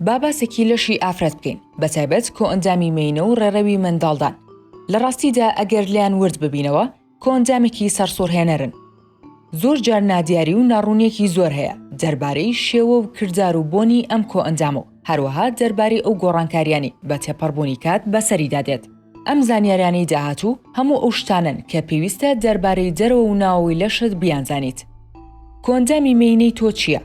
با باسێکی لەشی ئافرەت بکەین بەتایبەت کۆئەندامی مینە و ڕێڕەوی منداڵدان لە ڕاستیدا ئەگەر لیان ورد ببینەوە کۆندامێکی سەرسوڕهێنەرن زۆر جار نادیاری و ناڕوونیەکی زۆر هەیە دەربارەی شێوە و کردار و بۆنی ئەم کۆئەندام و هەروەها دەربارەی ئەو گۆڕانکاریانی بە تێپەڕبوونی کات بەسەریدا دێت ئەم زانیاریانەی داهاتوو هەموو ئەو شتانەن کە پێویستە دەربارەی دەرەوە و ناوەوەی لەشت بیانزانیت. کۆندامی مێینەی تۆ چییە؟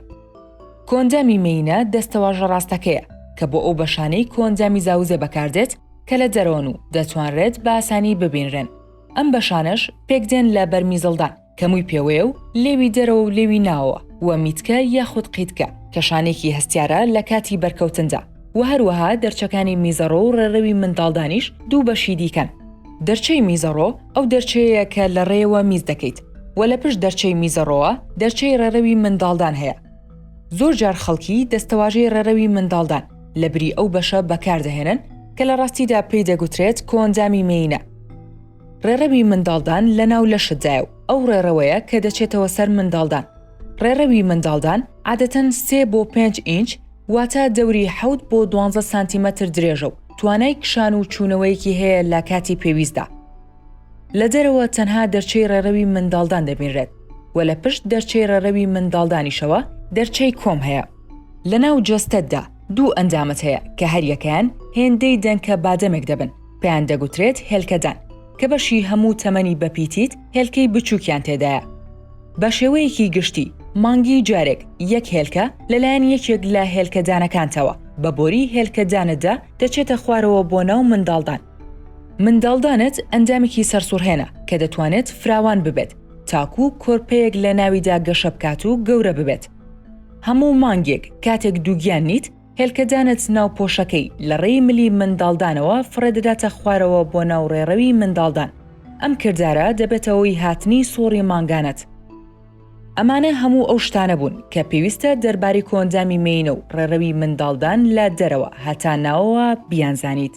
کۆندامی مێینە دەستەواژە ڕاستەکەیە کە بۆ ئەو بەشانەی کۆندامی زاوزێ بەکاردێت کە لە دەرەوەن و دەتوانرێت بە ئاسانی ببینرێن، ئەم بەشانەش پێکدێن لە بەرمیزڵدان، کە مووی پێوەیە و لێوی دەرەوە و لێوی ناوەوە و میتکە یاخود قیتکە کە شانێکی هەستیارە لە کاتی بەرکەوتندا و هەروەها دەرچەکانی میزەڕۆ و ڕێڕەوی منداڵدانیش دوو بەشی دیکەن دەرچەی میزەڕۆ ئەو دەرچەیە کە لە ڕێەوە میز دەکەیت و لە پشت دەرچەی میزەڕۆوە دەرچەی ڕێڕەوی منداڵدان هەیە زۆر جار خەڵکی دەستەواژەی ڕێڕەوی منداڵدان لە بری ئەو بەشە بەکاردەهێنن کە لە ڕاستیدا پێی دەگوترێت کۆندامی مینە ڕێڕەوی منداڵدان لە ناو لەشتدایە و ئەو ڕێڕەوەیە کە دەچێتەوە سەر منداڵدان. ڕێڕەوی منداڵدان عادەتەن سێ بۆ پێنج ئینچ واتە دەوری حەوت بۆ دوانزە سانتیمەتر درێژە و توانای کشان و چوونەوەیەکی هەیە لە کاتی پێویستدا. لە دەرەوە تەنها دەرچەی ڕێڕەوی منداڵدان دەبینرێت و لە پشت دەرچەی ڕێڕەوی منداڵدانیشەوە دەرچەی کۆم هەیە. لە ناو جەستەتدا دوو ئەندامت هەیە کە هەریەکەیان هێندەی دەنکە بادەمێک دەبن. پێیان دەگوترێت هێلکەدان، کە بەشی هەموو تەمەنی بەپیتیت هێلکەی بچووکیان تێدایە. بە شێوەیەکی گشتی، مانگی جارێک یەک هێلکە لەلایەن یەکێک لە هێلکەدانەکانتەوە بە بۆری هێلکەدانتدا دەچێتە خوارەوە بۆ ناو منداڵدان. منداڵدانت ئەندامێکی سەرسوڕهێنە کە دەتوانێت فراوان ببێت تاکوو کۆرپەیەک لە ناویدا گەشە بکات و گەورە ببێت. هەموو مانگێک کاتێک دووگیان نیت، هێلکەدانت ناو پۆشەکەی، لە ڕێی ملی منداڵدانەوە فڕێدەداتە خوارەوە بۆ ناو ڕێڕەوی منداڵدان، ئەم کردارە دەبێتە هۆی هاتنی سوڕی مانگانەت. ئەمانە هەموو ئەو شتانە بوون کە پێویستە دەربارەی کۆئەندامی مێینە و ڕێڕەوی منداڵدان لە دەرەوە هەتا ناوەوە بیانزانیت.